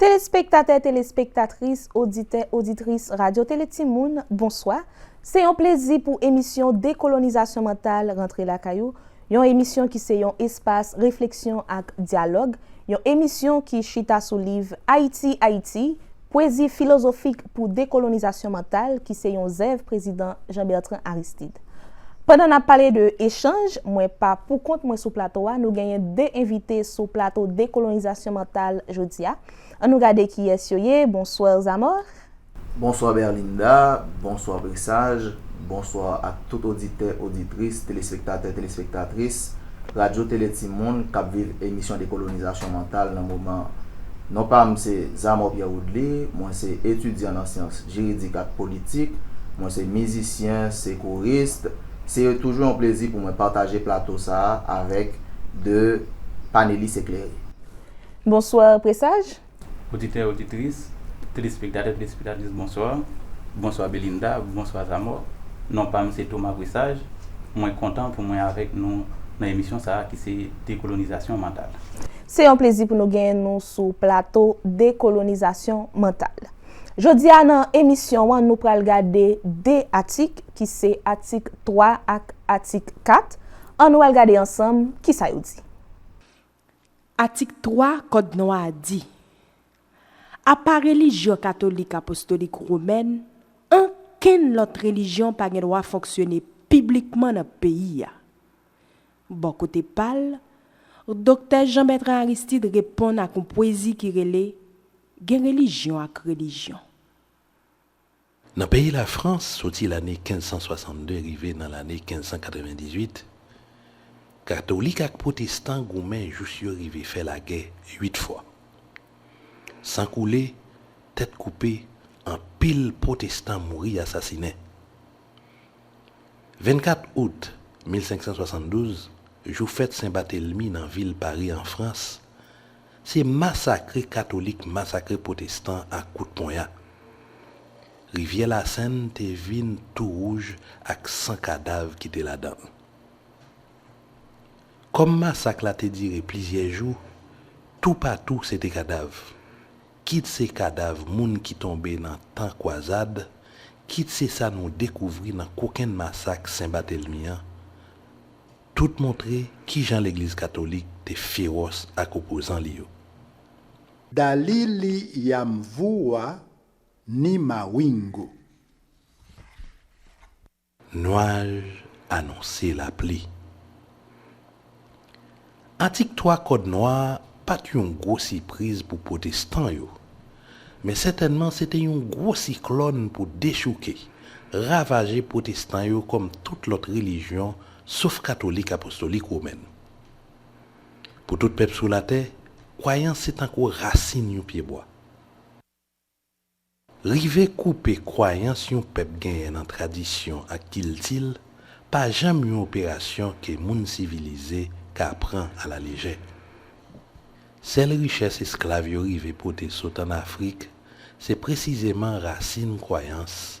Telespektatè, telespektatris, oditè, oditris Radyo Tele Timoun, bonswa! Se yon plezi pou emisyon Dekolonizasyon Mantal rantre lakay ou, yon emisyon ki se yon espas refleksyon ak dyalòg, yon emisyon ki chita sou liv Ayiti, Ayiti, Pwezi filozofik pou dekolonizasyon mantal ki se yon zèv Prezidan Jean Bertrand Aristid. Pandan nap pale de echanj, mwen pa poukont mwen sou plato a, nou genyen 2 envite sou plato Dekolonizasyon Mantal jodi a. An nou gade kiyès yo ye, Bonsoir Zamor. Bonswa Berlinda, bonswa Presaj, bonswa ak tout oditè, oditris, telespektatè, telespektatris Radyo Tele Timoun kap viv emisyon Dekolonizasyon Mantal nan moman an. Non pa m se Zamor Pierre Woodly, mwen se etidyan nan syans. jiridik ak politik. Mwen se mizisyen, sekourist. Se toujou yon plezi pou mwen pataje plato sa a avèk 2 panelis eklere. Bonswa Presaj. Oditè, oditris, telespektatè, telespektatris bonswa. Bonswa Belinda, bonswa Zamò. Non pa m se Thomas Presaj. Mwen kontan pou mwen avèk nou nan emisyon sa a ki se Dekolonizasyon Mantal. Se yon plezi pou nou genyen nou sou plato Dekolonizasyon Mantal. Jodi a nan emisyon an nou pral gade 2 atik ki se atik 3 ak atik 4, an nou al gade ansanm kisa yo di. Atik 3 kòd nwa a di, Apa relijyon katolik apostolik womèn, ankenn lòt relijyon pa gen dwa fonksyone piblikman nan peyi a. Bò kote pa l, Doktè Jean Bertrand Aristide reponn ak yon pwezi ki rele Gen relijyon ak relijyon. Nan peyi Lafrans, soti lane 1562 rive nan lane 1598, katolik ak pwotestan goumen jous yo rive fè lagè uit fwa. San koule, tèt koupe, anpil pwotestan mouri asasinen. 24 out 1572, jou fèt Sen Batelmi nan vil Pari an Frans, Se masakre katolik masakre pwotestan ak kout ponya. Rivyè Lasèn te vin tou wouj ak san kadav ki te ladan l. Kòm masak la te dire plizyè jou, toupatou se te kadav. Kit se kadav moun ki tonbe nan tan kwazad, kit se sa nou dekouvri nan kokenn masak Sen Batelmi an, Tout montre kijan legliz katolik te fewòs ak opozan li yo. Daliliyamvua ni Mawingu. Nwaj anonse lapli. Atik 3 Kòd Nwa a pa t yon gwo sipriz pou pwotestan yo, men sètènman se te yon gwo siklòn pou dechouke, ravaje pwotestan yo kòm tout lòt relijyon sof katolik apostolik womèn. Pou tout pèp sou latè, kwayans se tankou rasin yon pyebwa. Rive koupe kwayans yon pèp genyen nan tradisyon ak kilti l pa janm yon operasyon ke moun sivilize ka pran alalejè. Sèl richès esklav yo rive pote sot ann Afrik se presizeman rasin kwayans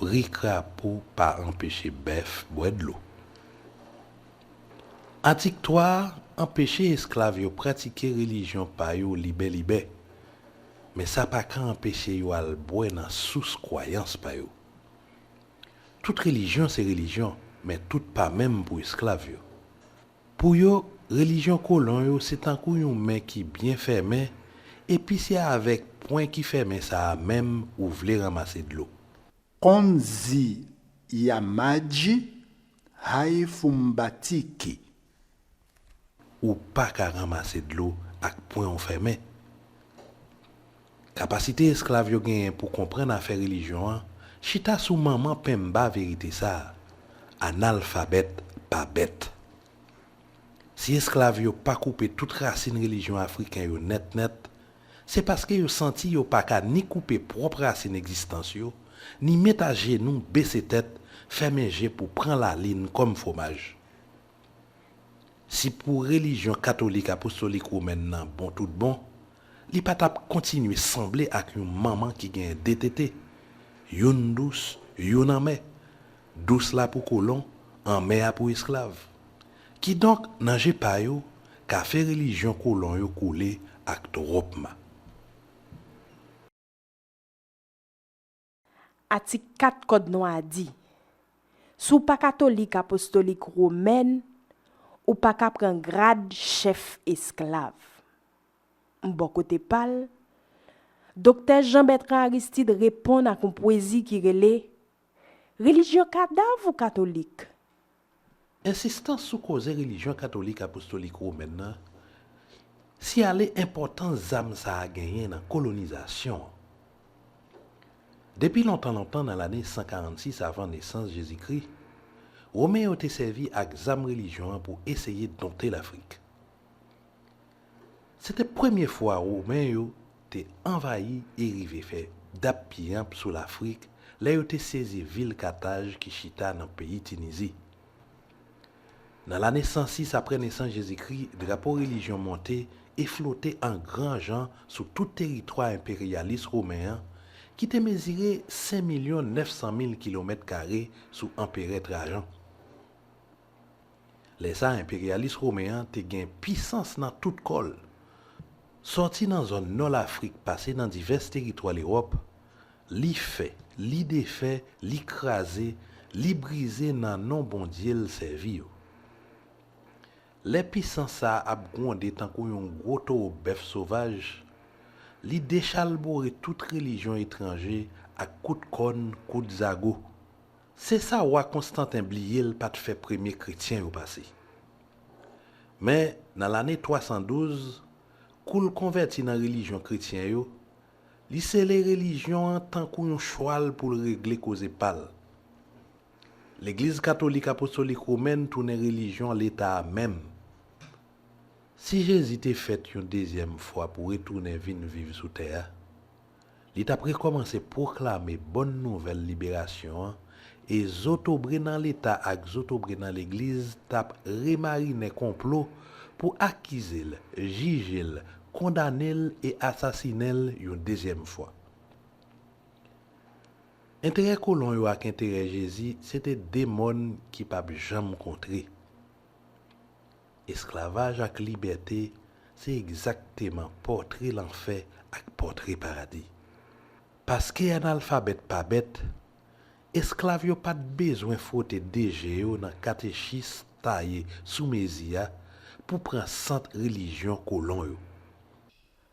Bri krapo pa anpeche bèf bwè dlo. Atik 3 a anpeche esklav yo pratike relijyon pa yo libè libè, men sa pa ka anpeche yo al bwè nan sous kwayans pa yo. Tout relijyon se relijyon, men tout pa menm pou esklav yo. Pou yo, relijyon kolon yo se tankou yon men ki byen fèmen, epi se avèk pwen ki fèmen sa a menm ou vle ranmase dlo. Onzi ya maji, haifumbatiki. Ou pa ka ranmase dlo ak pwen ou fèmen. Kapasite esklav yo genyen pou konprann afè relijyon an chita sou manman penmba verite sa a, Analfabèt pa bèt. Si esklav yo pa koupe tout rasin relijyon afriken yo nèt nèt, se paske yo santi yo pa ka ni koupe pwòp rasin egzistans yo, ni met ajenou, bese tèt, fèmen je pou pran lalin kòm fwomaj. Si pou relijyon katolik apostolik womèn nan bon tout bon, li pa t ap kontinye sanble ak yon manman ki genyen de tete, youn dous, youn anmè, dous la pou kolon, anmè a pou esklav. Kidonk, nan je pa yo, kafe relijyon kolon yo koule ak twòp ma. Atik 4 Kòd Nwa a di, Si w pa katolik apostolik womèn, ou pa ka pran grad chèf esklav. Bò kote pa l, Doktè Jean Bertrand Aristide reponn ak yon pwezi ki rele, Relijyon kadav ou katolik? Ensistans sou koze relijyon katolik apostolik womèn nan siyale enpòtans zam sa a genyen nan kolonizasyon an. Depi lontan lontan nan lane 146 avan nesans Jezikri, Women yo te sèvi ak zam relijyon an pou eseye donte Lafrik. Se te premye fwa Women yo te anvayi e rive fè dap-piyanp sou Lafrik lè yo te sezi vil Kataj ki chita nan peyi Tinizi. Nan lane 106 apre nesans Jezikri, drapo relijyon monte e flote an gran jan sou tout teritwa enperyalis women an ki te mezire sen milyon nèf san mil kilomèt kare sou Anperè Trajan. Lè sa a enperyalis women an te gen pisans nan tout kò l. Sòti nan zòn nò Lafrik pase nan divès teritwa Lewòp, li fè, li defè, li kraze, li brize nan non bondye l sèvi yo. Lè pisans sa a ap gwonde tankou yon gwo towo bèf sovaj, li dechalbore tout relijyon etranje ak kout kòn, kout zago. Se sa wa Konstanten bliye l pa t fè premye kretyen yo pase. Men, nan lane 312, kou l konvèti nan relijyon kretyen yo, li sele relijyon an tankou yon chwal pou l regle koze pa l. Legliz katolik apostolik womèn tounen relijyon leta a menm. Si Jezi te fèt yon dezyèm fwa pou retounen vin viv sou tè a, Li t ap rekòmanse pwoklame bòn nouvèl liberasyon an, e zotobre nan Leta ak zotobre nan Legliz t ap remarinen konplo pou akize l, jije l, kondane l e asasinen l yon dezyèm fwa. Enterè kolon yo ak enterè Jezi se te de mòn ki p ap janm kontre. Esklavaj ak libète se egzakteman pòtre lanfè ak pòtre paradi. Paske analfabèt pa bèt, esklav yo pa t bezwen fwote de je yo nan katechis taye sou mezi a pou pran sant relijyon kolon yo.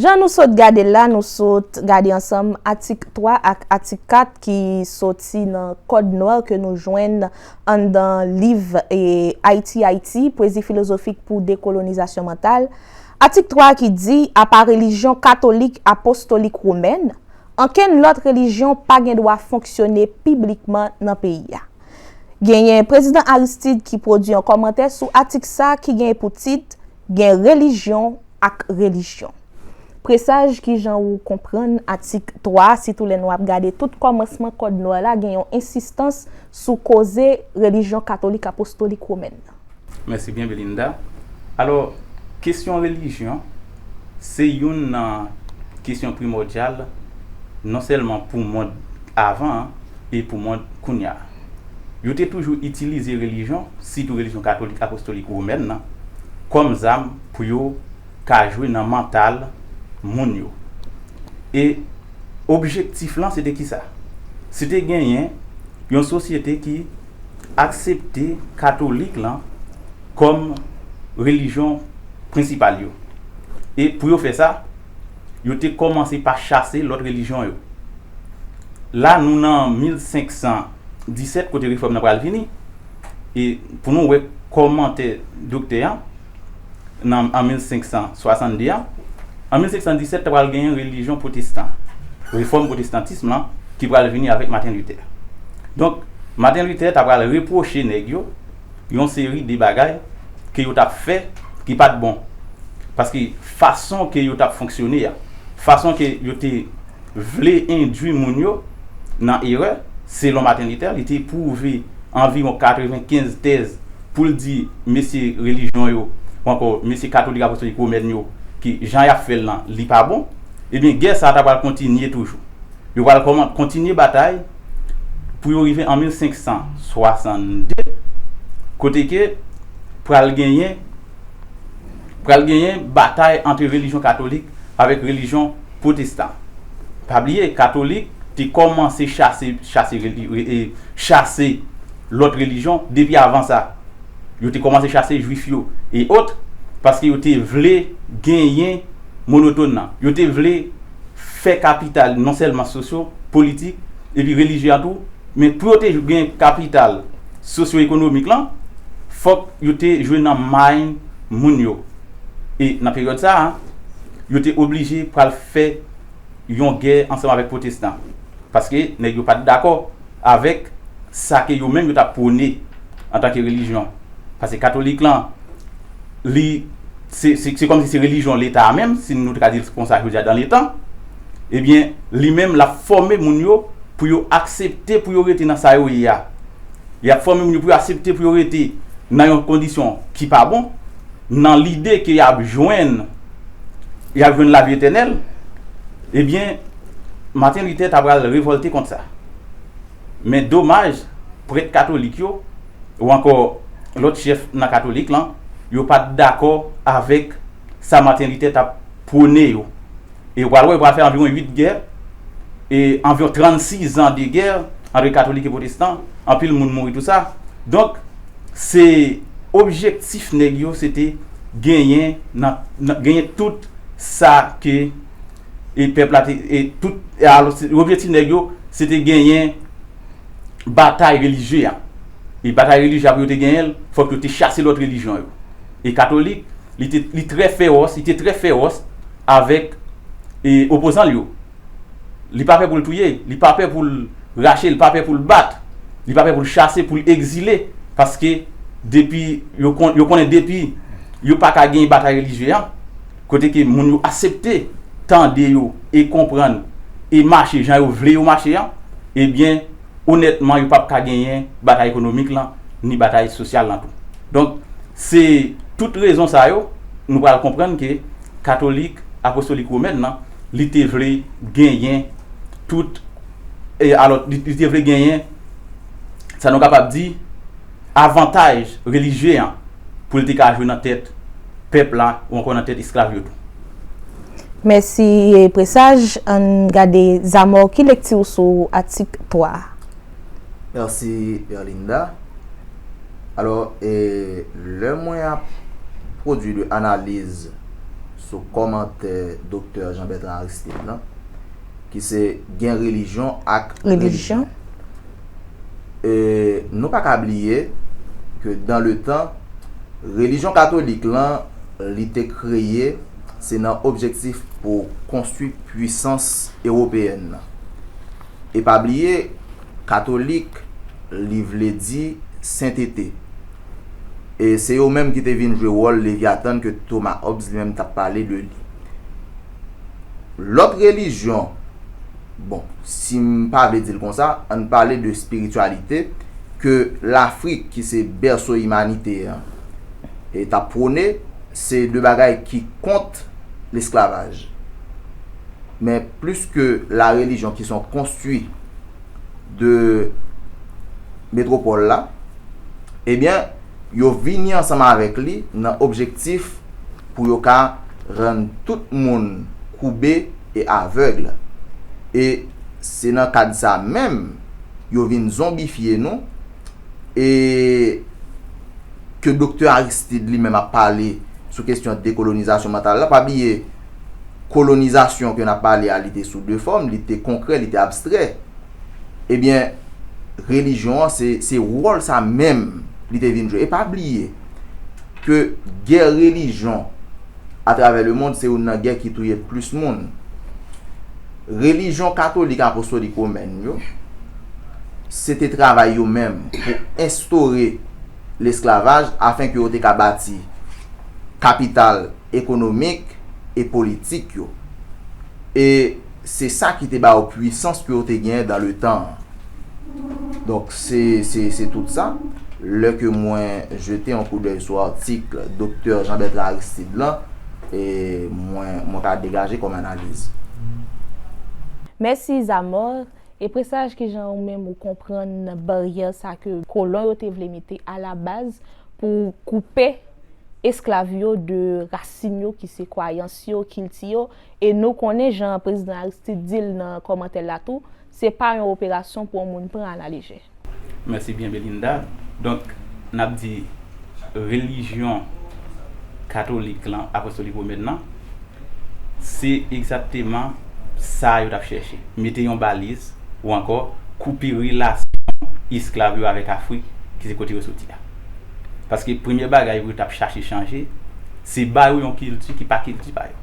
Jan nou sot gade l la, nou sot gade ansanm atik 3 ak atik 4 ki soti nan Code Noir ke nou jwenn anndan liv Ayiti, Ayiti, Pwezi filozofik pou dekolonizasyon mantal. Atik 3 a ki di, Apa relijyon katolik apostolik womèn, ankenn lòt relijyon pa gen dwa fonksyone piblikman nan peyi a. Genyen Prezidan Aristide ki pwodui yon kòmantè sou atik sa ki gen pou tit, Gen relijyon ak relijyon. Presaj ki jan ou konprann atik 3 a sitou lè nou ap gade tout kòmansman kòd Noir la gen yon ensistans sou koze relijyon katolik apostolik womèn nan. Mèsi byen Belinda. Alò, kesyon relijyon se youn nan kesyon primòdyal non sèlman pou mond avan an e pou mond kounya a. Yo te toujou itilize relijyon, sitou relijyon katolik apostolik womèn nan, kòm zam pou yo ka jwe nan mantal moun yo. E objektif lan se te ki sa? Se te genyen yon sosyete ki aksepte katolik lan kòm relijyon prensipal yo. E pou yo fè sa. yo te kòmanse pa chase lòt relijyon yo. La nou nan 1517 kote refòm nan pral vini, e pou nou wè kòmantè doktè an nan an 1562 an, an 1517 ta pral genyen relijyon pwotestan, refòm pwotestantism lan ki pral vini avèk Maten Luther. Donk Maten Luther ta pral repwoche nèg yo yon seri de bagay ke yo tap fè ki pat bon paske fason ke yo tap fonksyone a fason ke yo te vle endwi moun yo nan erè selon Martin Luther li te pwouve anviwon 95 tèz poul di mesye relijyon yo ou ankò mesye katolik apostolik womèn yo ke jan yap fèl lan li pa bon ebyen gè sa ta pral kontinye toujou. Yo pral kòman kontinye batay pou yo rive an 1562 kote ke pral genyen pral genyen batay antre relijyon katolik avèk relijyon pwotestan. Pa bliye katolik te kòmanse chase chase e chase lòt relijyon depi avan sa. Yo te kòmanse chase jwif yo e otre paske yo te vle genyen monotone nan. Yo te vle. fè kapital non sèlman sosyo, politik, epi relijye a tou, men pou yo te gen kapital sosyoekonomik lan, fòk yo te jwe nan may moun yo. E nan peryòd sa a, yo te oblije pral fè yon gè ansanm avèk pwotestan, paske nèg yo pa t dakò. avèk sa ke yo menm yo tap pwone antanke relijyon pase katolik lan li se se kòmsi se relijyon leta a menm si nou ta ka dil konsa jodi a dan letan ebyen li menm lap fòme moun yo pou yo aksepte pou yo rete nan sa yo ye a li ap fòme moun yo pou yo asepte pou yo rete nan yon kondisyon ki pa bon nan lide ke yap jwenn yap jwenn lavi etènèl ebyen Martin Luther ta pral revòlte kont sa. Men domaj, prèt katolik yo, ou ankò lòt chèf nan katolik lan, yo pa t dakò avèk sa Martin Luther t ap pwone yo. E ou pral wè, yo pral fè anviwon 8 gè, e anviwon 36 de gè antre katolik e pwotestan, anpil moun mouri tou sa. Donk, se objektif nèg yo se te genyen nan, genyen tout sa ke. e pèp la te e tout e alò se yo vle ti nèg yo se te genyen batay relijye a e batay relijye a pou yo te genyen l fòk yo te chase lòt relijyon yo e katolik li te li trè fewòs li te trè fewòs avèk e opozan l yo li pa pè pou l touye li pa pè pou l rache li pa pè pou l bat li pa pè pou l chase pou l egzile paske depi yo kon yo konnen depi yo pa ka genyen batay relijye a. Kote ke moun yo asepte tande yo e konprann e mache jan yo vle yo mache an, ebyen onètman yo pap ka genyen batay ekonomik lan ni batay sosyal lan tou. Donk se tout rezon sa yo nou pral konprann ke katolik apostolik womèn lan li te vle genyen tout e alò li te vle genyen sa nou kapab di, avantaj relijye an pou l te ka jwe nan tèt pèp la ou ankò nan tèt esklav yo tou. Mèsi Presage. Ann gade Zamor ki lekti ou sou atik 3 a? Mèsi Erlinda. Alò, lè mwen ap pwodui de analiz sou kòmantè Doktè Jean Bertrand Aristide lan ki se gen relijyon ak relijyon. e nou pa ka bliye ke dan le tan relijyon katolik lan li te kreye se nan objektif pou konstwi pwisans ewopeyèn nan. E pa bliye katolik li vle di sentete. E se yo menm ki te vin jwe wòl Leviatan ke Thomas Hobbes li menm t ap pale de li. Lòt relijyon, bon, si m pa vle di l konsa, an n pale de spirityalite ke Lafrik ki se bèso imanite an e t ap pwone, se de bagay ki kont lesklavaj. Men plis ke la relijyon ki son konstwi de metwopòl la, ebyen, yo vini ansanm avèk li nan objektif pou yo ka rann tout moun koube e avègle. E se nan kad sa menm yo vin zonbifye nou e ke Doktè Aristide li menm ap pale sou kestyon dekolonizasyon mantal la. Pa bliye kolonizasyon ke n ap pale a li te sou 2 fòm, li te konkrè, li te abstrè. Ebyen, relijyon an se wòl sa menm li te vin jwe. E pa bliye ke gè relijyon atravè le mond se youn nan gè ki touye plis moun. Relijyon katolik apostolik womèn yo, se te travay yo menm pou enstore lesklavaj afen ke yo te ka bati kapital ekonomik e politik yo. E. Se sa ki te ba yo pwisans ke yo te genyen dan le tan an. Donk, se, se, se tout sa. Lè ke mwen jete yon koudèy sou atik Doktè Jean Bertrand Aristide lan, e, mwen, mwen ka degaje kòm analiz. Mèsi Zamor, e presaj kijan ou menm ou konprann baryè sa ke kolon yo te vle mete a la baz pou koupe esklav yo de rasin yo ki se kwayans yo, kilti yo, E nou konnen jan Prezidan Aristide di l nan kòmantè l la tou, se pa yon operasyon pou yon moun pran alalejè. Mèsi byen Belinda. Donk, n ap di relijyon katolik lan, apostolik womèn lan, se egzakteman sa yo t ap chèche, mete yon baliz ou ankò koupe relasyon esklav yo avèk Afrik ki se kote yo soti a. Paske premye bagay pou yo t ap chache chanje, se ba yo yon kilti ki pa kilti pa yo.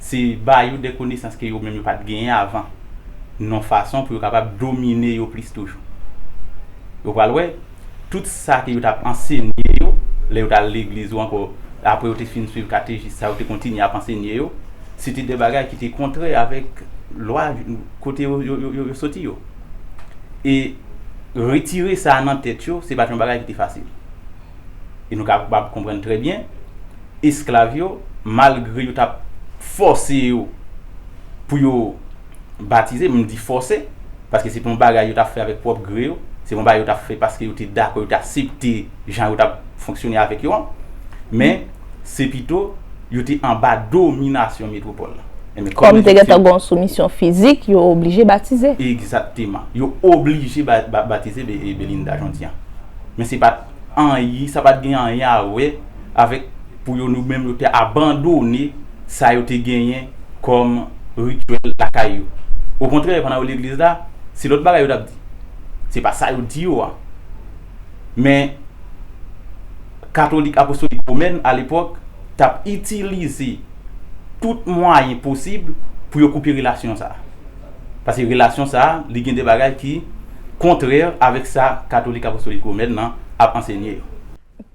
se ba yo de konesans ke yo menm yo pa t genyen avan, non fason pou yo kapab domine yo plis toujou. Yo pral wè, tout sa ke yo t ap ansenye yo, lè yo t al legliz ou ankò apre yo te fin suiv katejis sa yo te kontinye ap ansenye yo, se te de bagay ki te kontrè avèk lwa kote yo soti yo. E retire sa nan tèt yo, se pa t yon bagay ki te fasil. E nou kapab konprann trè byen, esklav yo, malgre yo t ap fòse yo pou yo batize, m di fòse, paske se pa yon bagay yo t ap fè avèk pwòp gre yo, se pa yon bagay yo t ap fè paske yo te dakò, yo te asepte jan yo t ap fonksyone avèk yo an, men, se pito yo te anba dominasyon metwopòl la. Enben, kòm Ejipsyen. Kòm te gen tan gen yon soumisyon fizik, yo oblije batize. Egzakteman. Yo oblije batize Belinda Jean-Dian. Men se pa. anyen, sa pa t gen anyen a wè avèk pou yo nou menm yo te abandone sa yo te genyen kòm rityèl lakay yo. Okontrè, pandan yo legliz la, se lòt bagay yo t ap di. Se pa sa yo di yo a. Men, katolik apostolik womèn alepòk t ap itilize tout mwayen posib pou yo koupe relasyon sa a. Pase relasyon sa a, li gen de bagay ki kontrè avèk sa Katolik Apostolik Womèn nan ap ansenye yo.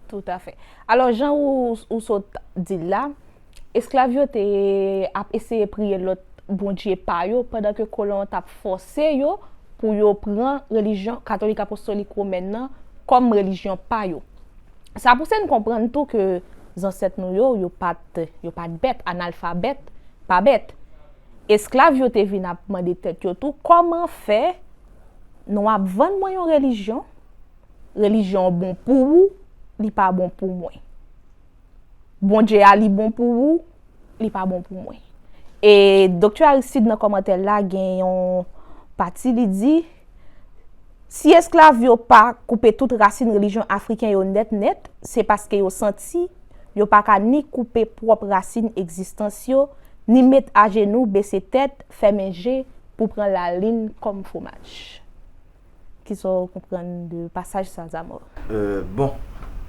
Toutafè. Alò, jan ou sot di l la, esklav yo te ap eseye priye lòt bondje pa yo pandan ke kolon an t ap fòse yo pou yo pran relijyon Katolik Apostolik Womèn nan kòm relijyon pa yo. Sa pouse n konprann tou ke zansèt nou yo, yo pa t bèt, analfabèt pa bèt. Esklav yo te vin ap mande tèt yo tou, Kòman fè nou ap vann mwen yon relijyon? Relijyon an bon pou ou, li pa bon pou mwen. Bondye a li bon pou ou, li pa bon pou mwen. E Doktè Aristide nan kòmantè l la gen yon pati li di. Si esklav yo pa koupe tout rasin relijyon Afriken yo nèt nèt, se paske yo santi yo pa ka ni koupe pwòp rasin egzistans yo, ni met ajenou, bese tèt, fèmen je pou pran lalin kòm fwomaj. Kisa w konprann de pasaj sa, Zamò? Bon,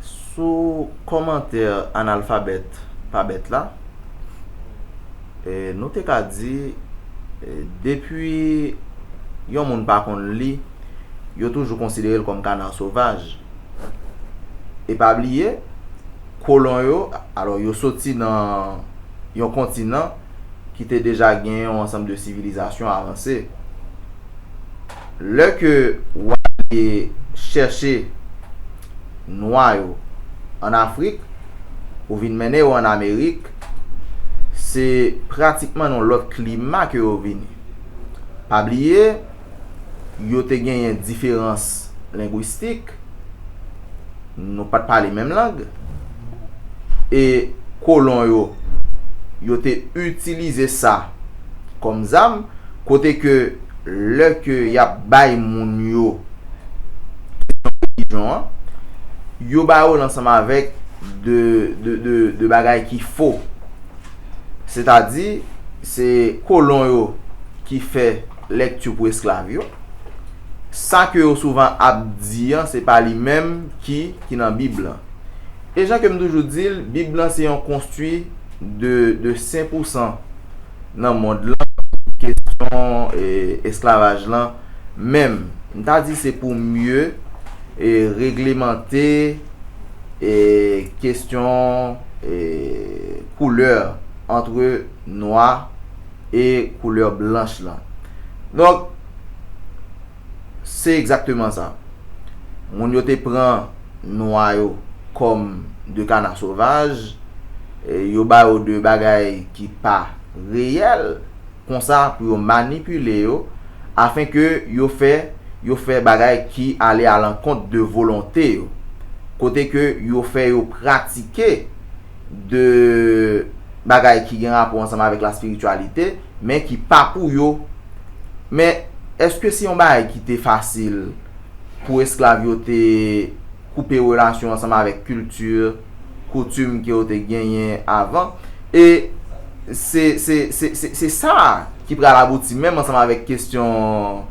sou kòmantè analfabèt pa bèt la, nou te ka di, depi yon moun pa konn li, yo toujou konsidere l kòm kana sovaj. E pa bliye, kolon yo, alò yo soti nan yon kontinan, ki te deja gen yon ansanm de sivilizasyon avanse. Lè ke wale chèche nwa yo an Afrik pou vin mennen yo an Amerik, se pratikman nan yon lòt klima ke yo vini. Pa bliye. yo te genyen diferans lengwistik, nou pa t pale menm lang, e kolon yo, yo te itilize sa kòm zam, kote ke lè ke y ap bay moun yo kesyon relijyon an, yo ba yo l ansanm avèk de bagay ki fo. Sètadi, se kolon yo ki fè. Lekti pou esklav yo. Sa ke yo souvan ap di an, se pa li menm ki ki nan Bib lan. E jan ke m toujou di l, Bib lan se yon konstwi de de sen pou san nan mond lan sou kesyon esklavaj lan menm. M ta di se pou mye e reglemante e kesyon e koulè antre nwa. e koulè blanch lan. Donk, se egzakteman sa. Moun yo te pran nwa yo kòm de kana sovaj, yo ba yo de bagay ki pa reyèl, konsa pou yo manipile yo, afen ke yo fè yo fè bagay ki ale alankont de volonte yo, kote ke yo fè yo pratike. de bagay ki gen rapò ansanm avèk laspirityalite, men ki pa pou yo. Men, èske se yon bagay ki te fasil pou esklav yo te koupe relasyon ansanm avèk kilti, koutim ke yo te genyen avan? E, se, se, se, se, se sa a ki pral abouti menm ansanm avèk kestyon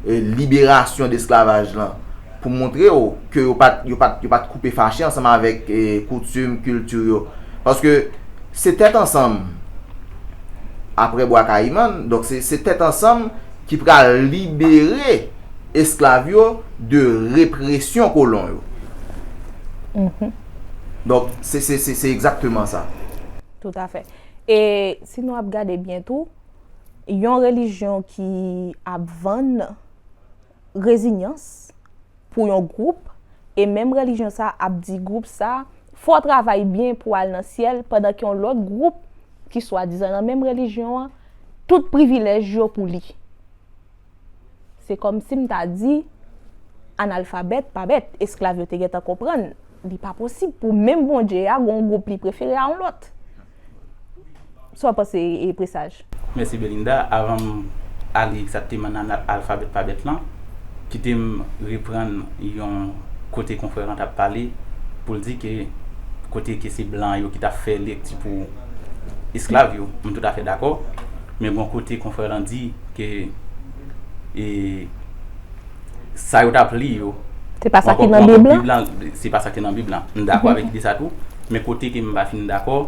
liberasyon de esklavaj lan. Pou montre w ke yo pat yo pat yo pat koupe fache ansanm avèk koutim, kilti yo. Paske se tèt ansanm aprè Bwa Kayiman, donk se se tèt ansanm ki pral libere esklav yo de represyon kolon yo. Donk se se se se egzakteman sa. Toutafè. E si nou ap gade byen tou, yon relijyon ki ap vann rezinyans pou yon gwoup e menm relijyon sa a ap di gwoup sa a fè w travay byen pou w al nan syèl pandan ke yon lòt gwoup ki swadizan nan menm relijyon an tout privilèj yo pou li se kòm si m ta di analfabèt pa bèt esklav yo te gentan konprann li pa posib pou menm Bondye a gen yon gwoup li prefere a yon lòt. Sa w panse e Presaj? Mèsi Belinda, avan m ale egzakteman nan alfabèt pa bèt lan, kite m reprann yon kote konfrè lan t ap pale pou l di ke kote ke se blan yo ki t ap fè lekti pou esklav yo, m toutafè dakò, men gon kote konfrè lan di ke e. sa yo t ap li yo, se pa sa ki nan bib lan, se pa sa ki nan bib lan, m dakò avèk ide sa tou, men kote ke m pa fin dakò,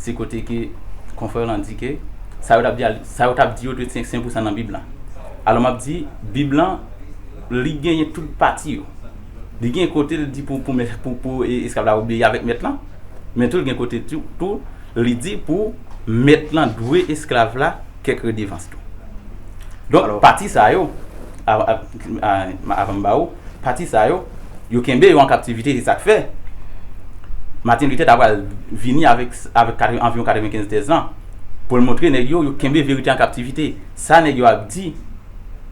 se kote ke konfrè lan di ke sa yo t ap di a, sa yo t ap di yo dwe sen pou sa nan bib lan, alò m ap di bib lan li genyen tout pati yo, li gen kote l di pou pou esklav la obeyi avèk mèt lan, men tou l gen kote tou li di pou mèt lan dwe esklav la kèk redevans tou. Donk, pati sa yo, avan m ba ou, pati sa yo, yo kenbe yo an kaptivite, se sa k fè, Martin Luther ta pral vini avèk anviwon 95 tèz lan, pou l montre nèg yo, yo kenbe verite an kaptivite. Sa nèg yo ap di,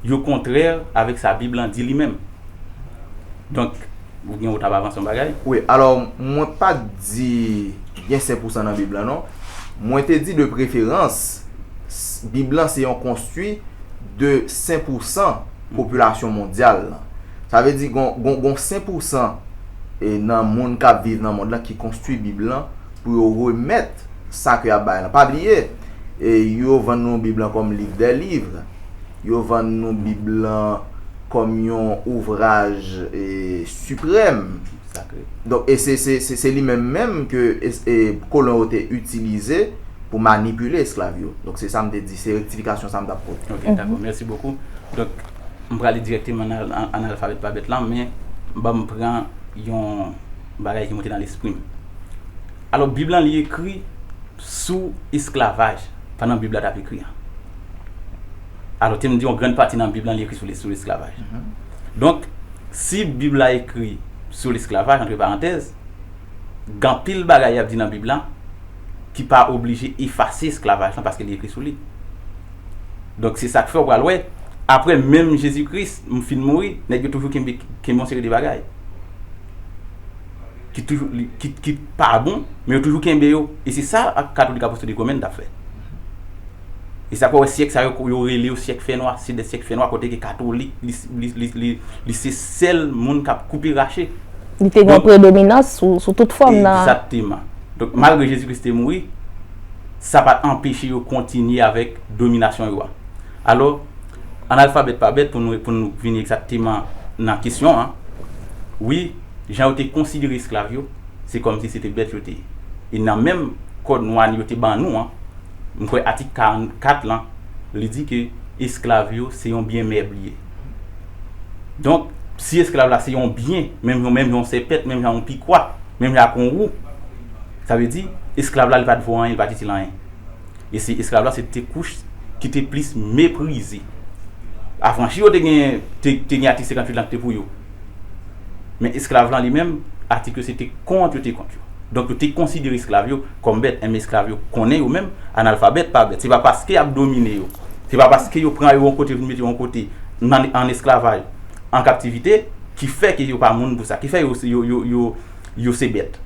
yo kontrè avèk sa Bib lan di li menm. Donk. Ou gen ou tap avanse yon bagay? Wi, alò mwen pa t di gen sen pousan nan Bib lan non. Mwen te di de preferans, Bib lan se yon konstwi de sen pousan popilasyon mondyal lan. Sa vle di gon sen pousan nan moun k ap viv nan mond lan ki konstwi Bib lan. pou yo remèt sa ke y ap bay lan. Pa bliye, yo vann nou Bib lan kòm liv dè liv, yo vann nou Bib lan kòm yon ouvraj siprèm. Donk, e se li menm menm ke kolon yo te itilize pou manipile esklav yo. Donk, se sa m te di, se rektifikasyon sa m t ap pote. Ok, dakò. Mèsi bokou. Donk, m prale dirèkteman nan analfabèt pa bèt lan, men ban m pran yon. bagay ki monte nan lespri m. Alò Bib lan li ekri sou esklavaj pandan Bib la t ap ekri an. Alò te m di yon grann pati nan Bib lan li ekri sou lesklavaj. Donk, si Bib la ekri sou lesklavaj, antre parantèz, gen anpil bagay y ap di nan Bib la ki pa oblije efase esklavaj lan paske li ekri sou li. Donk, se sa k fè ou pral wè, apre menm Jezi Kris fin mouri, nèg yo toujou kenbe yon seri de bagay. ki toujou ki pa bon men yo toujou kenbe yo e se sa katolik apostoli romen tap fè e sa fè wè syèk sa yo rele yo syèk fènwa se de syèk fènwa kote ke katolik li se sèl moun kap koupe rache li te gen predominans sou tout fòm nan egzakteman donk malgre jezi kris te mouri sa pat anpeche yo kontinye avèk dominasyon yo a alò Analfabèt pa bèt pou nou pou nou vini egzakteman nan kesyon an. Wi, jan yo te konsidere esklav yo, se kòm si se te bèt yo te ye. E nan menm Kòd nwa n yo te ban nou an, m kwè atik 44 lan, li di ke esklav yo se yon byen mèb li ye. Donk, si esklav la se yon byen, menm jan menm jan yon sèpèt, menm jan yon pikwa, menm jan ak yon wou, sa vle di, esklav la li pa t vo anyen, li pa t itil anyen. E se esklav la se te kouch ki te plis meprize. Afranchi yo te gen te gen atik 58 lan ki te pou yo. Men esklav lan li menm, atik yo se te kont yo te kont yo. Donk yo te konsidere esklav yo kòm bèt. Enben esklav yo konnen yo menm analfabèt pa bèt. Se pa paske y ap domine yo, se pa paske yo pran yo yon kote vin mete yo yon kote nan an esklavaj, an kaptivite ki fè ke yo pa moun pou sa, ki fè yo yo yo yo yo se bèt.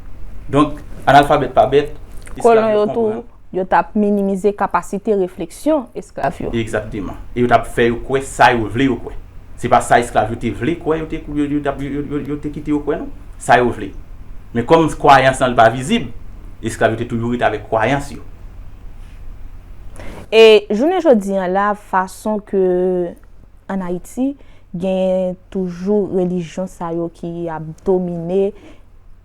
Donk analfabèt pa bèt, esklav yo konprann. Yo t ap minimize kapasite refleksyon esklav yo. Egzakteman. E yo t ap fè yo kwè sa yo vle yo kwè. Se pa sa esklav yo te vle kwè yo te kite yo kwè non. Sa yo vle. Men kòm kwayans lan li pa vizib, esklav yo te toujou rete avèk kwayans yo. E jounen jodi an la fason ke an Ayiti genyen toujou relijyon sa yo ki ap domine.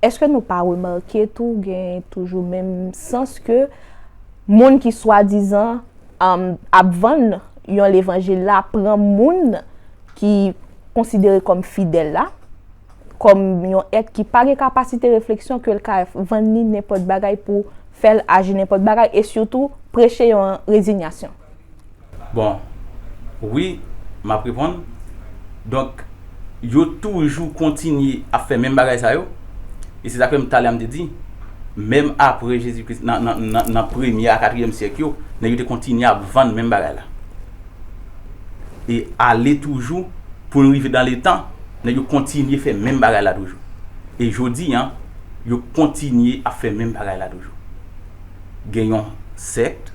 Eske nou pa remake tou gen toujou menm sans ke moun ki swadizan ap vann yon levanjil la pran moun ki konsidere kòm fidèl la kòm yon èt ki pa gen kapasite refleksyon ke l ka vann ni nenpòt bagay pou fè l aji nenpòt bagay e sitou preche yon rezinyasyon. Bon wi map reponn donk yo toujou kontinye ap fè menm bagay sa yo e se sa k fè m talè a m te di menm apre Jezi Kris nan premye a katriyèm syèk yo nèg yo te kontinye ap vann menm bagay la e ale toujou pou n rive dan le tan nèg yo kontinye fè menm bagay la toujou e jodi an yo kontinye ap fè menm bagay la toujou gen yon sèkt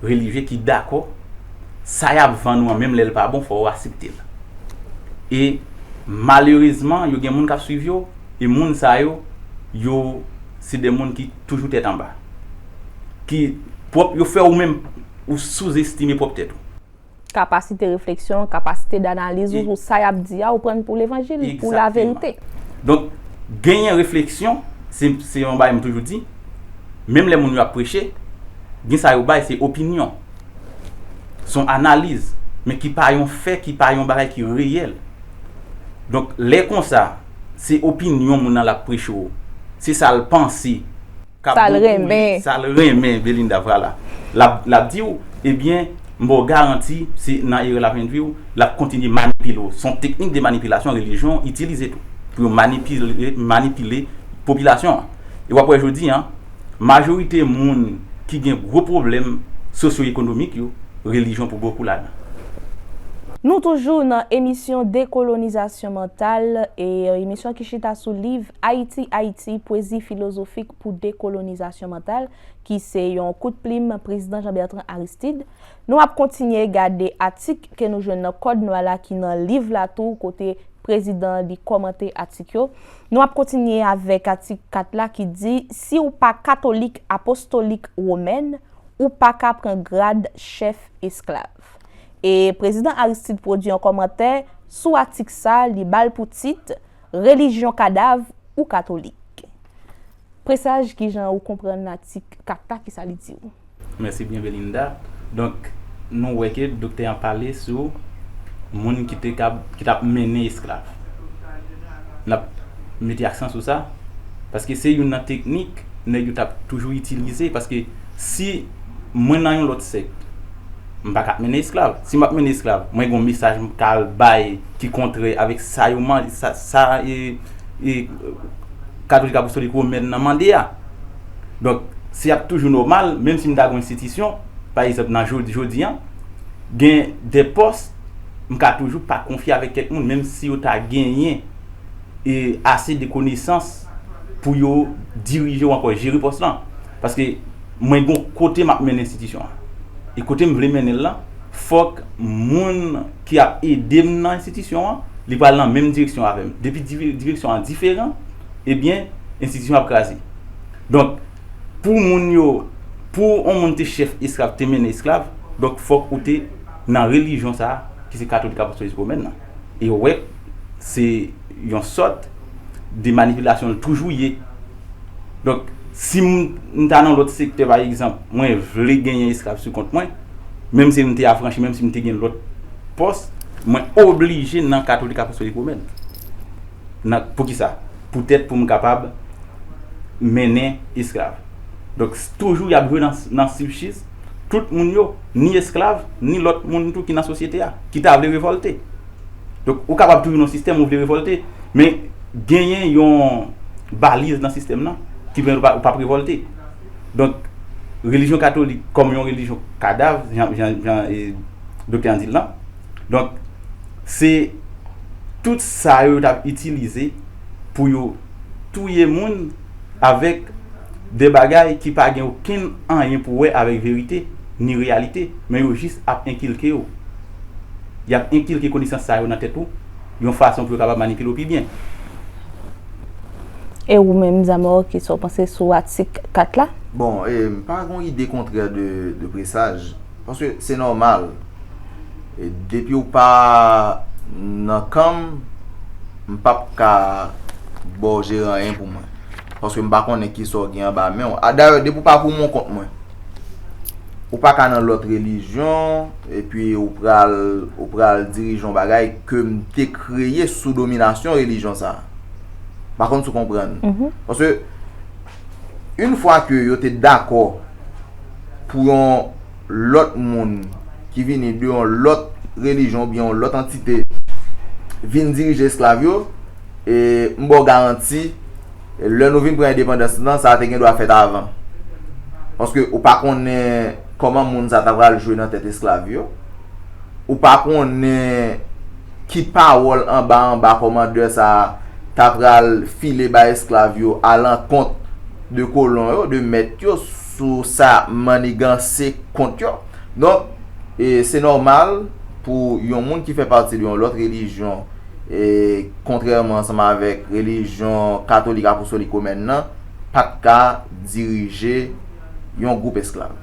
relijye ki dakò sa yap vann ou an menm lèl pa bon fò ou aseptel e malerezman yo gen moun kap swiv yo e moun sa yo yo se de moun ki toujou tèt anba ki pwòp yo fè ou menm ou souzestime pwòp tèt ou. Kapasite refleksyon, kapasite d'analiz ou sou sa y ap di a, ou pran l pou levanjil, pou laverite. Egzakteman. Donk, genyen refleksyon, se, se yon bagay m toujou di, menm lè moun yo ap preche, gen sa yo bay, se opinyon. S on analiz, men ki pa yon fè, ki pa yon bagay ki reyèl. Donk, lè konsa, se opinyon moun nan l ap preche w, se sa l panse. Sa l renmen. Sa l renmen Belinda Vwala l ap di w Ebyen m ba w garanti se nan erè l ap endwi w L ap kontinye manipile w S on teknik de manipilasyon relijyon itilize tou pou yo manipile popilasyon an E w ap wè jodi a majorite moun ki gen gwo pwoblèm sosyo ekonomik yo relijyon pou bokou ladan Nou toujou nan emisyon Dekolonizasyon Mantal, emisyon ki chita sou liv Ayiti, Haïti, pwezi filozofik pou dekolonizasyon mantal, ki se yon kout plim Prezidan Jean Bertrand Aristide. Nou ap kontinye gade atik ke nou jwenn nan Kòd Nwa la ki nan liv la tou kote Prezidan an li kòmante atik yo. Nou ap kontinye avèk atik 4 la ki di, Si w pa katolik apostolik womèn, ou pa ka pran grad chèf esklav. E Prezidan Aristide pwodui yon kòmantè sou atik sa, li ba l pou tit, Relijyon kadav ou katolik? Presaj kijan ou konprann atik 4 la kisa li diw? Mèsi byen Belinda. Donk nou wè ke doktè an pale sou moun ki te kab ki tap mennen esklav. Nap mete aksan sou sa paske se youn nan teknik nèg yo tap toujou itilize paske si mwen nan yon lòt sèk M pa ka mennen esklav. Si m ap mennen esklav, mwen gen yon mesaj m ka al bay ki kontrè avèk sa yo man, sa, sa e, e, katolik apostolik womèn nan mande a. Donk, se ap toujou nòmal, menm si m ta gen yon enstitisyon, pa egzanp nan jodi, jodi an, gen de pòs, m ka toujou pa konfye avèk kèk moun, menm si yo ta genyen e ase de konesans pou yo dirije ou ankò jere pòs lan. Paske. Mwen gon kote map mennen enstitisyon an. E kote m vle mennen l lan, fòk moun ki ap ede m nan enstitisyon an, li pral nan menm direksyon avè m. Depi direksyon an diferan, ebyen enstitisyon an ap kraze. Donk, pou moun yo, pou on moun te chèf esklav, te mennen esklav, donk fòk ou te nan relijyon sa a, ki se katolik apostoliz womèn nan. Yo wè se yon sòt de manipilasyon l toujou ye. Donk, si m ta nan lòt sektè pa egzanp, mwen vle genyen esklav sou kont mwen, menm si m te afranchi, menm si m te gen lòt pòs, mwen oblije nan katolik apostolik womèn. Nan, pou ki sa? Poutèt pou m kapab mennen esklav. Donk, toujou y ap jwe nan sibchis. tout moun yo, ni esklav, ni lòt moun tou ki nan sosyete a, ki ta vle revòlte. Donk, ou kapab toujou nan yon sistèm, ou vle revòlte, men genyen yon baliz nan sistèm nan ki pèmèt ou pa p revòlte. Donk, relijyon katolik kòm yon relijyon kadav, jan doktè an di l lan, donk, se tout sa yo yo t ap itilize pou yo touye moun avèk de bagay ki pa gen okenn anyen pou wè avèk verite, ni reyalite, men yo jis ap enkilke ou. Y ap enkilke konesans sa yo nan tèt ou, yon fason pou yo kapab manipile ou pi byen. E ou menm, Zamor, ki sa w panse sou atik 4 la? Bon, m pa gen yon ide kontrè de presaj. Paske se nòmal. Depi ou pa nan kan m, m p ap ka ba w jere anyen pou mwen. Paske m pa konnen ki sa w gen anba men w. Dayè, depi ou pa pou mon kont mwen, ou pa ka nan lòt relijyon, epi ou pral ou pral dirije yon bagay ke m te kreye sou dominasyon relijyon sa a. M pa konn si w konprann. Paske. Yn fwa ke yo te dakò pou yon lòt moun ki vini de yon lòt relijyon oubyen yon lòt antite vin dirije esklav yo, e m ba w garanti, lè nou vin pran endepandans nou lan, sa te gen dwa fèt avan. Paske ou pa konnen kòman moun sa ta pral jwe nan tèt esklav yo. Ou pa konnen ki pawòl anba anba kòmandè sa a t apral file bay esklav yo alankont de kolon yo, de mèt yo, sou sa manniganse kont yo. Donk, se nòmal pou yon moun ki fè pati de yon lòt relijyon, kontrèman ansanm avèk relijyon katolik apostolik womèn nan, pa t ka dirije yon gwoup esklav.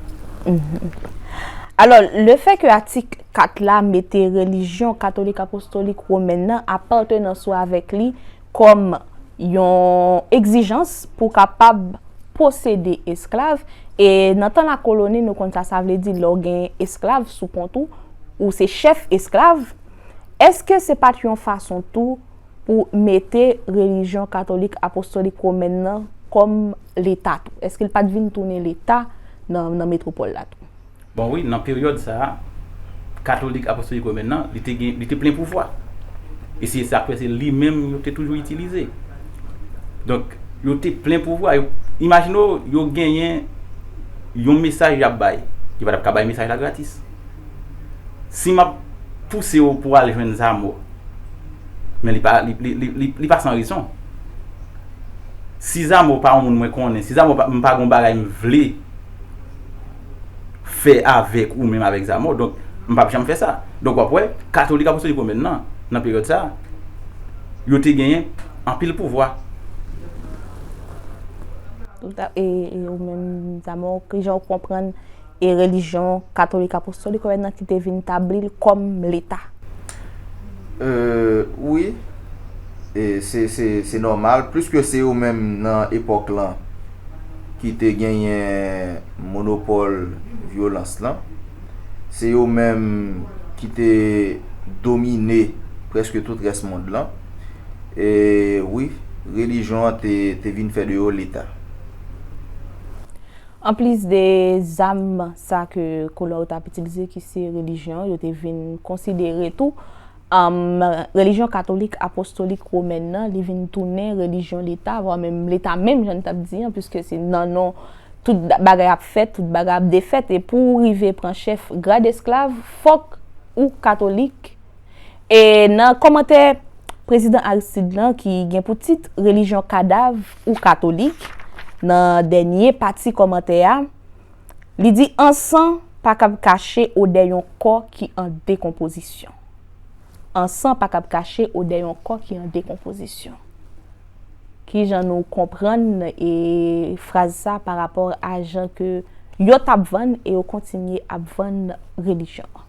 Alò, lefèke atik Kat la mete relijyon katolik apostolik women nan apatenans ou avèk li kòm yon egzijans pou w kapab posede esklav, e nan tan lakoloni nou konn sa sa vle di lè w gen esklav sou kont ou, ou se chèf esklav, èske se pa t yon fason tou pou mete relijyon katolik apostolik women nan kòm leta tou? Èske li pa t vin tounen leta nan metwopòl la tou? Bon wi, nan peryòd sa a, Katolik Apostolik Women nan, li te gen, li te plen pouvwa. E se sa k fè se li menm yo te toujou itilize. Donk, yo te plen pouvwa. Yo, imajine w, yo genyen yon mesaj y ap bay. Yo pa t ap ka bay mesaj la gratis. Si m ap pouse w pou w al jwenn Zamò, men li pa, li pa san rezon. Si Zamò pa yon moun mwen konnen, si Zamò pa, m pa gen yon bagay m vle. fè avèk ou menm avèk Zamor donk m pap janm fè sa donk wap wè katolik apostolik women nan nan peryòd sa yo te genyen anpil pouvwa. E ou menm Zamor ki jan ou konprann e relijyon katolik apostolik women nan ki te vin tabli l kòm leta? Wi se nòmal pliske se yo menm nan epòk lan. ki te genyen monopòl vyolans lan, se yo menm ki te domine prèske tout rès mond lan, e wi, relijyon an te vin fè de yo leta. Anplis de zam sa ke kolon yo t ap itilize ki se relijyon, yo te vin konsidere tou, Anm, Relijyon katolik apostolik womèn nan, li vin tounen relijyon leta, vwa menm leta menm jan n t ap di an, piske se nan non tout bagay ap fèt, tout bagay ap defèt, e pou ou rive pran chèf grad esklav, fòk ou katolik. E nan kòmantè Prezidan Aristide lan ki gen pou tit Relijyon kadav ou katolik, nan dènye pati kòmantè a, Li di ansan pa kab kache odè yon kò ki an dekonpozisyon. Ansan pa kab kache odè yon kò ki an dekonpozisyon. Ki jan nou konprann e fraz sa pa rapò a jan ke yo tap vann e yo kontinye ap vann relijyon an?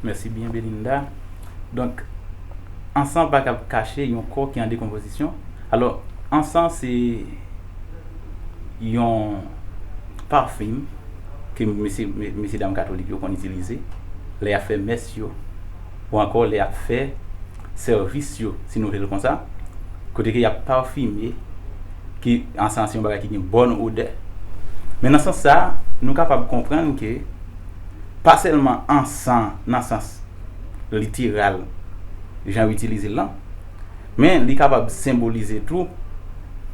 Mèsi byen Belinda. Donk, an san pa kab kache yon kò ki an dekonpozisyon. Alò, an san se yon pafim ke mesye, mesye dam katolik yo konn itilize lè y ap fè mès yo ou ankò lè y ap fè sèvis yo, si nou vle l konsa, kote ke y ap pafime, ke an san se yon bagay ki gen bòn odè. Men nan sans sa a, nou kapab konprann ke. pa sèlman an san nan sans literal jan yo itilize l lan, men li kapab senbolize tou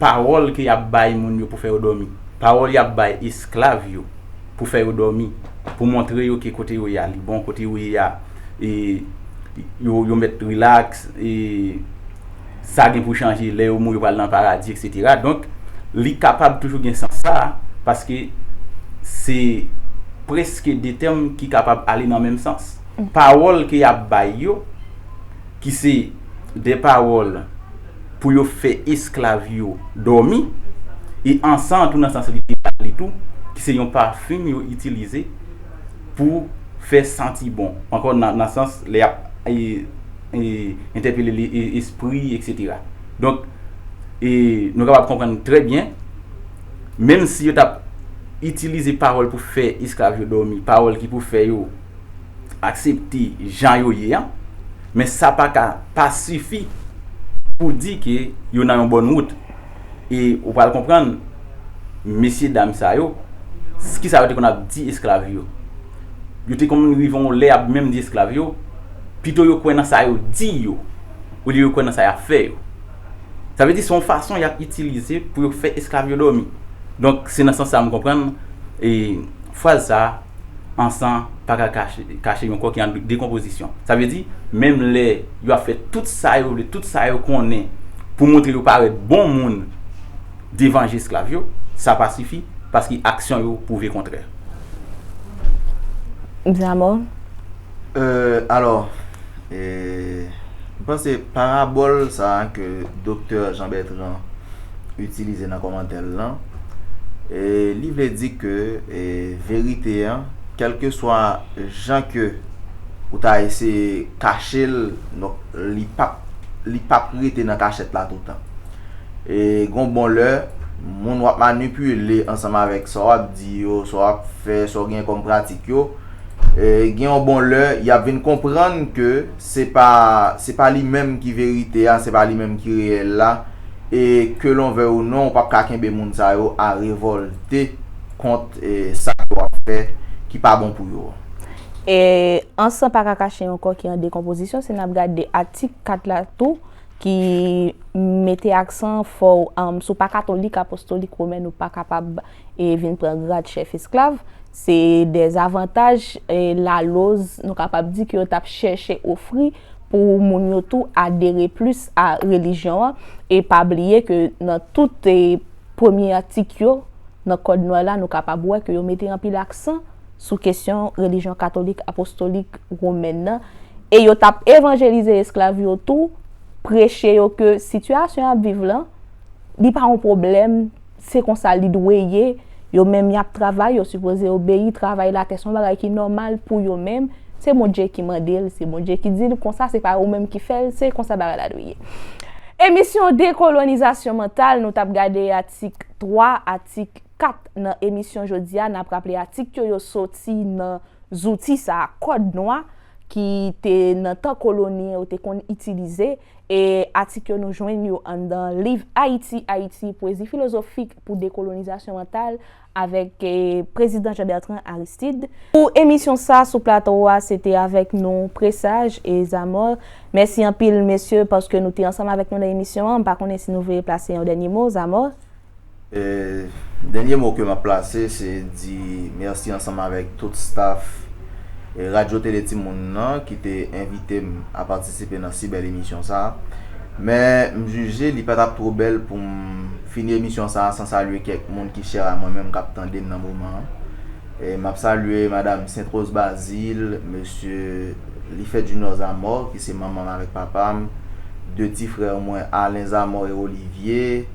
pawòl ke y ap bay moun yo pou fè yo dòmi, pawòl y ap bay esklav yo pou fè yo dòmi, pou montre yo ke kote yo ye a li bon, kote yo ye a yo mèt rilaks. sa gen pou chanje lè yo mouri yo pral nan paradi etc donk li kapab toujou gen sans sa a paske se preske 2 tèm ki kapab ale nan menm sans pawòl ke yap bay yo ki se 2 pawòl pou yo fè esklav yo dòmi e ansan tou nan sans literal li tou ki se yon pafim yo itilize pou fè santi bon ankò nan sans lè yap entèpele li espri etc. Donk e nou kapab konprann trè byen menm si yo tap itilize pawòl pou fè esklav yo dòmi, pawòl ki pou fè yo aksepte jan yo ye an, men sa pa ka pa sifi pou di ke yo nan yon bòn wout. E ou pral konprann mesye dam sa yo, ki sa yo te konn ap di esklav yo. Yo te konn rive yon lè y ap menm di esklav yo, pito yo kwè nan sa yo di yo, olye yo kwè nan sa y ap fè yo. Sa vle di se yon fason y ap itilize pou yo fè esklav yo dòmi. Donk, se nan sans sa a m konprann e. Fraz sa a, An san pa ka kache yon kò ki an dekonpozisyon. Sa vle di, menm lè yo ap fè tout sa yo vle, tout sa yo konnen pou montre yo parèt bon moun devan je esklav yo, sa pa sifi, paske aksyon yo pwouve kontrè. Zamor? Alò. E m panse parabòl sa ke doktè Jean Bertrand itilize nan kòmantè l lan, li vle di ke verite an, kèlkeswa jan ke ou ta eseye kache l, donk li p ap, li p ap rete nan kachèt la toutan. E gon bon lè, moun w ap manipile ansanm avèk sa w ap di yo, sa w ap fè, sa w gen kòm pratik yo, gen yon bon lè y ap vin konprann ke se pa se pa li menm ki verite a, se pa li menm ki reyèl la e ke lon vèy ou non ou p ap ka kenbe moun sa yo a revòlte kont sa yo ap fè ki pa bon pou yo. E an san pa ka kache yon kò ki an dekonpozisyon si n ap gade atik 4 la tou ki mete aksan fò sou pa katolik apostolik womèn ou pa kapab e vin pran grad chèf esklav, se de zavantaj laloz nou kapab di ke yo tap chèche ofri pou moun yo tou adere plis a relijyon an, e pa bliye ke nan tout premye atik yo nan kòd Noy la nou kapab wè ke yo mete anpil aksan sou kesyon relijyon katolik apostolik womèn nan, e yo tap evanjelize esklav yo tou, preche yo ke sitiyasyon yap viv lan li pa yon pwoblèm. Se konsa li dwe ye, yo menm yap travay yo sipoze obeyi travay latè son bagay ki nòmal pou yo menm, se Bondye ki mandel, se Bondye ki dil konsa se pa ou menm ki fèl, se konsa bagay la dwe ye. Emisyon Dekolonizasyon Mantal nou tap gade atik 3 atik 4 nan emisyon jodia nap raple atik yo yo soti nan zouti sa kòd nwa ki te nan tan koloni yo te konn itilize E atik yo nou jwenn yo anndan liv Ayiti, Ayiti, Pwezi filozofik pou dekolonizasyon mantal avèk Prezidan Jean Bertrand Aristide. Pou emisyon sa sou plato a se te avèk nou Presaj e Zamor. Mèsi anpil mesye paske nou te ansanm avèk nou nan emisyon an. M pa konnen si nou vle plase yon dènye mo, Zamor? Dènye mo ke map plase se di mèsi ansanm avèk tout staf Radyo Tele Timoun nan ki te envite m a patisipe nan si bèl emisyon sa. Men m jije li pa tap two bèl pou m fini emisyon sa san salye kèk moun ki chè a mwen menm kap tande m nan moman an. Map salye madam Sentrose Bazil, mesye Lifèt Junior Zamor ki se manman m avèk papa m, 2 ti frè mwen Alain Zamor e Olivier,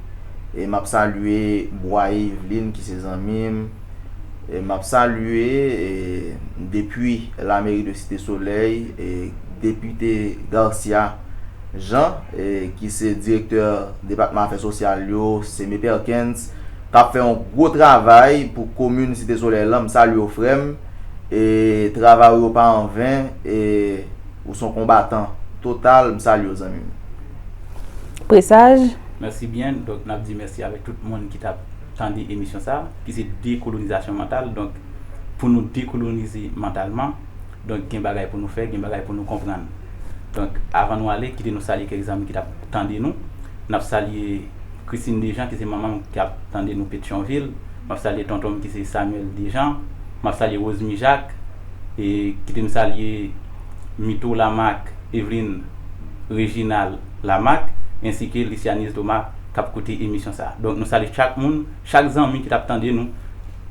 e map salye Bwaye Yveline ki se zanmim e map salye e depui la mairie de cite soleil e depute Garcia Jean e ki se direktè depatman afè sosyal yo Seme Perkens kap fè yon gwo travay pou komin cite soleil lan m salyew frèm e travay ou yo pa anven e ou son konbatan total m salyew zanmim. Presaj, Merci bien donc nap di merci avec tout moun ki tap tande emisyon sa ki se dekolonizasyon mantal donc pou nou dekolonize mantalman donc gen bagay pou nou fè gen bagay pou nou konprann donc avan nou ale kite nou salye kèk zanmi ki tap tande nou nap salye Christine Dejean ki se manmanm ki ap tande nou Petyonvil map salye tontonm ki se Samuel Dejean map salye Rosemy Jacques e kite m salye Mito Lamarque Evelyne Reginald Lamak ensi ke Lysianise Thomas kap koute emisyon sa. Donk nou salye chak moun, chak zanmi ki tap tande nou.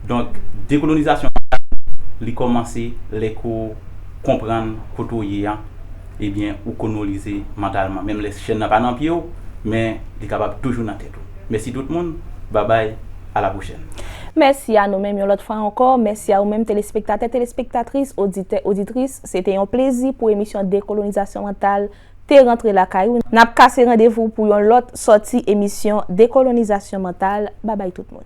Donk dekolonizasyon an sa li komanse lè ke w konprann kote w ye an ebyen ou konolize mantalman menm lè chèn nan pa nan pye w men li kapab toujou nan tèt ou. Mèsi tout moun, babay a la pwochèn. Mèsi a nou menm yon lòt fwa ankò, mèsi a ou menm telespektatè, telespektatris, oditè, oditris, se te yon plezi pou emisyon dekolonizasyon mantal. te rantre lakay ou nap kase randevou pou yon lòt sòti emisyon dekolonizasyon mantal babay tout moun.